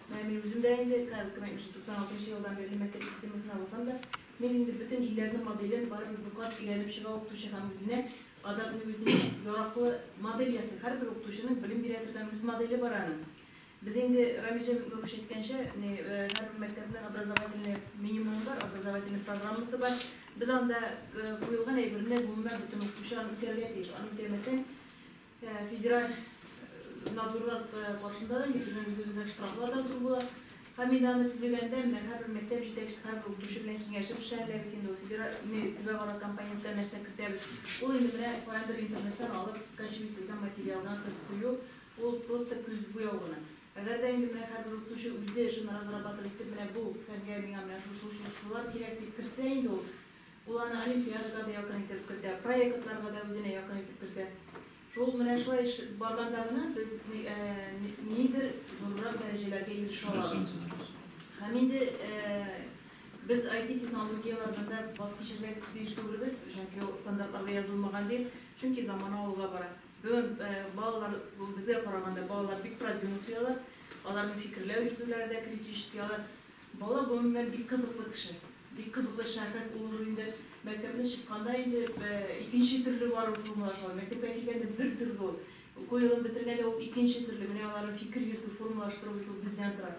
Менә мин үзем дә инде, кырык кенә биш, туксан алтынчы елдан бирле мәктәп системасына булсам да, мин инде бөтен илләрнең моделен барыбер бер кат өйрәнеп чыга укытучы һәм үзенә адак ни үзенә яраклы модель ясый. Һәрбер укытучының белем бирә торган үз моделе бар аның. Без инде Рамилҗан Мөкмәмович әйткәнчә, ни һәрбер мәктәпнең образовательный минимумы бар, образовательный программасы бар. Без анда куелган әйберне гомумән бөтен укытучы аны үтәргә тиеш. Аны үтәмәсәң, Федераль надзорлар каршында да, безнең үзебезнең штрафлар да зур була. Хамиданы төзегәндә, менә һәрбер мәктәп җитәкчесе, һәрбер укытучы белән киңәшеп эшләр әле бит инде. Федераль төбәкара компонентлар нәрсә кертәбез. Ул инде менә каяндыр интернеттан алып, скачивать ителгән материалга кертеп кую, ул просто күз буяу гына. Әгәр дә инде менә һәрбер укытучы үзе шуны разрабатывать итеп, менә бу фәнгә миңа менә шушы-шушылар кирәк дип кертсә инде ул, Ул аны олимпиадага да якын итеп кертә, проектларга да үзенә якын итеп кертә. Шул менә шулай эш барганда гына без нидер зуррак дәрәҗәләргә ирешә алабыз. Һәм инде Без IT-технологияләрдә дә баз кичергә тиеш түгелбез, чөнки ул стандартларда язылмаган бит, чөнки замана алга бара. Бүген балалар безгә караганда балалар бик продвинутыйлар, аларның фикерләү җитүләре дә критическийлар. Бала гомумән бик кызыклы кеше. Бик кызыклы шәхес, ул уже инде мәктәпне чыкканда инде икенче төрле бар ул формалашлар. Мәктәпкә килгәндә бер төрле ул. Уку елын бетергәндә ул икенче төрле. Менә аларны фикер йөртү, формалаштыру бит ул бездән тора.